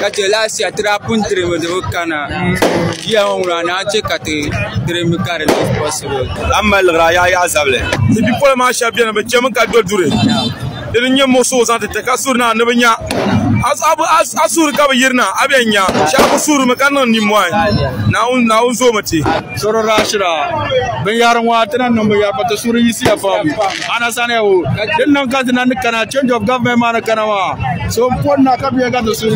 Ka chɛ last year ti daa pun dirimi di bi kana. Year ŋɔ ŋuna naan chɛ ka ti dirimi ka di be possible. A ni mali liɣiri a yaa yaɣi zabili. Ti bipola maa shɛba beni bɛ chɛmi ka do duri di ni nyɛ muɣisigu zaŋ ti ti ka suhiri na ni bɛ nya a suhiri ka bɛ yiri na a bɛn nya shɛba kuli suhirimi ka niŋ nimmɔhi Naawuni zoomi ti. Shiri daa shira binyɛri ŋɔ a ti na niŋ binyɛri pa ti suhiri yiɣisiya pam. Ana sani ya o ka din niŋ ka dina ni kana change of government maa ni kana maa so n pon na ka bia ka ti sun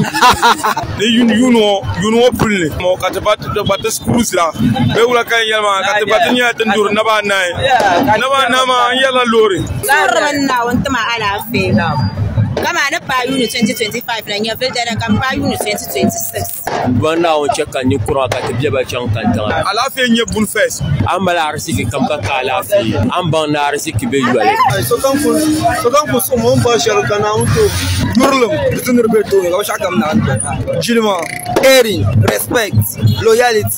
ni yun yun ŋɔ yun ŋɔ puli ni mo ka ti ba ti gba ti sira bɛ wula ka yɛn maa ka ti ba ti nyɛla ti duri naba anahi naba anahi maa n yɛla loori sɔhirimi n na n tima alaafee kama ni paai yuuni 2025 la nyɛ vildana ka paai yuuni 2026 Duan Naawuni chɛ ka ni kura ka ti bɛ ba chaŋ kantaŋa. Alaafee nyɛ buni fes. A ni mali ariziki kam ka ka alaafee. A ni baŋ ni ariziki be yoli. Sokam ku suhim o ni bɔri shɛli ka Naawuni ti o yurilim di ti niriba tooni ka binshɛɣukam naai doya. Jilima, caring, respect, loyalty.